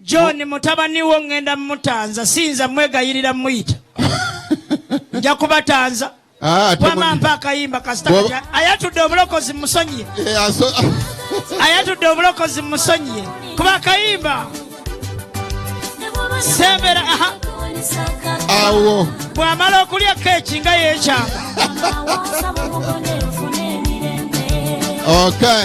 John mutabani wo ngenda mutanza sinza mwegayirira muyita nja kubatanza ah, wama mpa akayimba kasita ayatudde obulokozi musonyiye eh, ayatudde obulokozi musonyiye kuba akayimba sembera awo bwamala okulya keeki nga yekyanga okay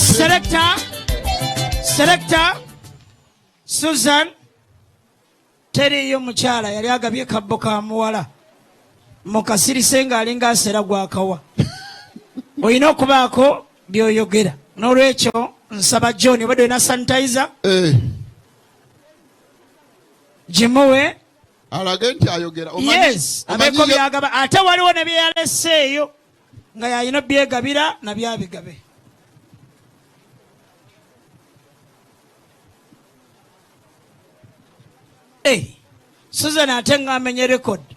Selector, selector, Susan, teriyo mukyala yali agabye kabbo ka muwala mukasirise ng'alinga asera gwakawa olina okubaako byoyogera n'olwekyo nsaba john obadde olina sanitizer eh. gimuwe alage nti ayogera yes abeko byagaba ate waliwo ne byeyaleseeyo nga yalina byegabira na byabigabe hey, susan ate nga amenye rekodi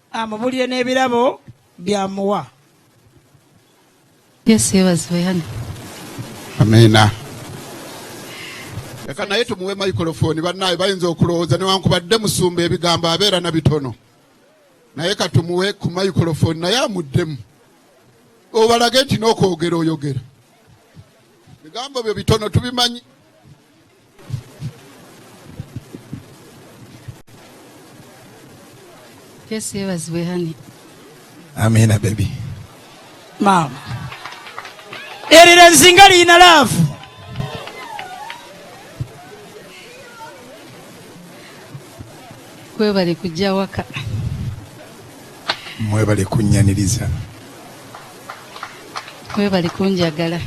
amubulire n'ebirabo byamuwa yesu yebazibwe hano amiina leka naye tumuwe microphone bannaayo bayinza okulowooza newankubadde musumba ebigambo abeera na bitono naye katumuwe ku microphone naye amuddemu obalage nti n'okwogera oyogera bigambo byo bitono tubimanyi Yesu yebazibwe hani. Amina baby. Mama. Erira nzinga liyina laavu. Kwebale kujja waka. Mwebale kunnyaniriza. Kwebale kunjagala.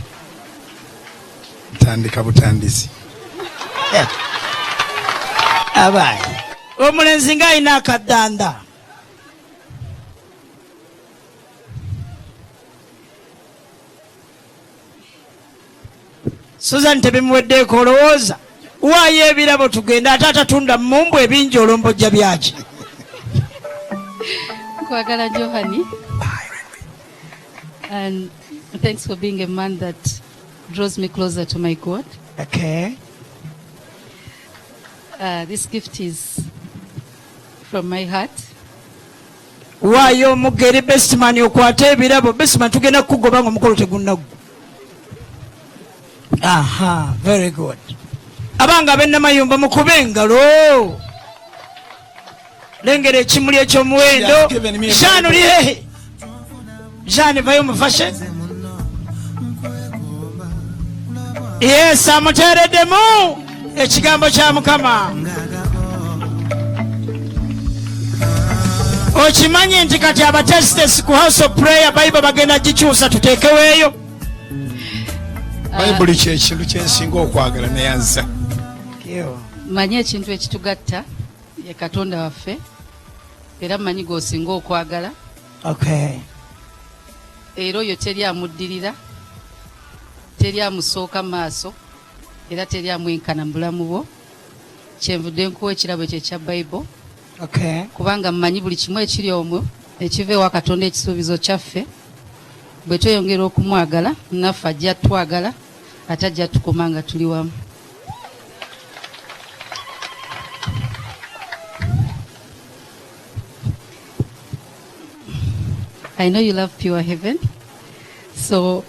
ntandika butandisi abaye omulenzi nga alina akadanda suzan tebimuweddeeko olowooza waayo ebirabo tugenda ate atatunda mumbu ebingi olombojja byaki kwagala johani and thanks for being a man that draws me closer to my God. Okay. Uh, this gift is from my heart. waayo omugere besman okwata ebirabo besman tugenda kukugoba nga omukolo tegunnaggwa aha very good abanga abenamayumba mukube engalo lengera ekimuli ekyomuwendo jean oli hehe jean vayo mufashe yes amuteereddemu ekigambo kya mukama okimanyi nti kati abatesitesi ku house of prayer bible bagenda gikyusa tuteekeweeyo bayibuli kyekintu kyensinga okwagala neyanza Mmanyi ekintu ekitugatta ye Katonda waffe era mmanyi gw'osinga okwagala. Okay. Era oyo teri amuddirira, teri amusooka maaso era teri amwenkana mu bulamu bwo. Kyenvudde nkuwa ekirabo ekyo ekya Bible. Okay. Kubanga mmanyi buli kimu ekiri omwo ekiva ewa Katonda ekisuubizo kyaffe bwe tweyongera okumwagala naffe ajja twagala ate ajja tukoma nga tuli wamu. I know you love pure heaven. So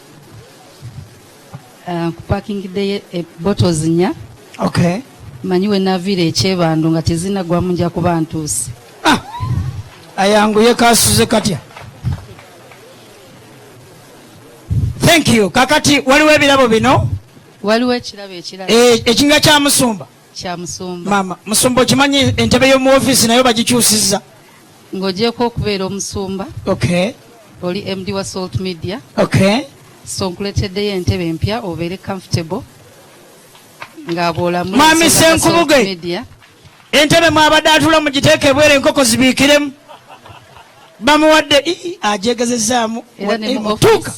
uh, kupakingidde eh, bottles nnya okay. manyi we naviira ekyebandu nga tezinagwamu nja kuba ntuuse ah! ayanguye kasuze katya thank you kakati waliwo ebirabo bino waliwo ekirabo ekirala eh, ekinga kya musumba kya musumba mama musumba okimanyi entebe y'omu ofiisi nayo bagikyusiza ng'ogyeko okubeera omusumba okay oli md wa salt media okay so nkuleteddeyo entebe empya obeere comfortable nga bwolamu mami senkubuge entebe mwabadde atula mugiteeka ebwere enkoko zibiikiremu bamuwadde ajegezezaamu tuuka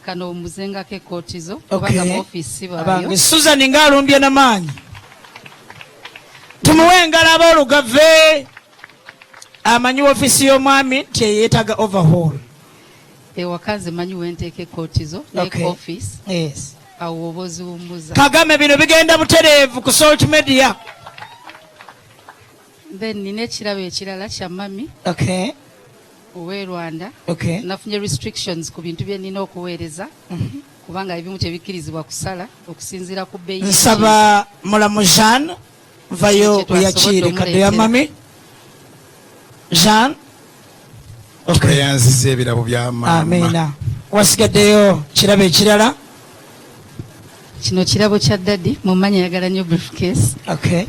kano omuzengako ekootizo kubanga mu ofiisi baayo susan nga alumbye na maanyi tumuwe engalo abaolugave amanyi ofiisi y'omwami nti eyeetaga overhaul ewaka nze manyi wenteeka ekootizo neke ofiisi awo oba oziwummuza kagame bino bigenda butereevu ku salt media Then nina ekirabo ekirala kya mami okay. owe Rwanda okay. nafunye restrictions ku bintu bye nina okuweereza mm -hmm. kubanga ebimu tebikkirizibwa kusala okusinziira ku bbeyi. Nsaba mulamu Jean vayo oyakiire kadde ya mami Jean tweyanziza ebirabo bya maama wasigaddeyo kirabo ekirala kino kirabo kya dadi mumanya yagala nyo briefcase okay.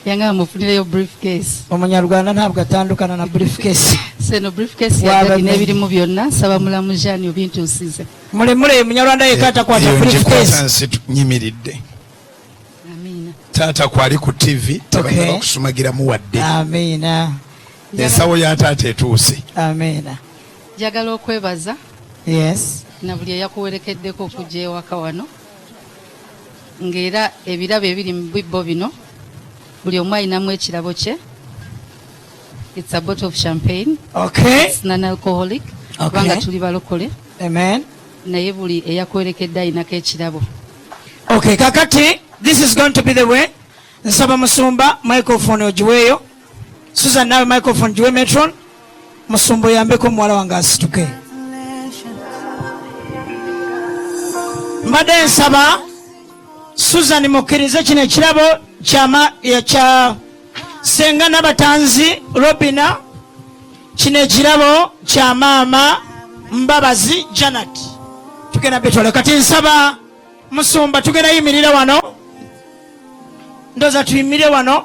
yangamba mufunireyo briefcase omunyarwanda ntabwo atandukana na briefcase seno briefcase ya dadi n'ebirimu byonna nsaba mulamu jani obintuusize mulemule munyarwanda yeka atakwata briefcase nyimiridde taata kwali ku tv tebayina okay. okusumagiramu wadde amiina ensawo ya taata etuuse amiina njagala okwebaza yes na buli eyakuwerekeddeko okujja ewaka wano ng'era ebirabo ebiri mu bibbo bino buli omu alinamu ekirabo kye it's a bottle of champagne okay it's non alcoholic kubanga okay. tuli balokole amen naye buli eyakuwerekedde alinako ekirabo okay kakati this is going to be the way nsaba musumba microphone ogiweeyo susan naawe microphone giwe metron musumba oyambeko omuwala wange asituke mbadde nsaba susan mukkirize kino ekirabo kya senga nabatanzi robina kino ekirabo kya maama mbabazi janat tugenda betwale kati nsaba musumba tugenda yimirira wano ndoza tuyimire wano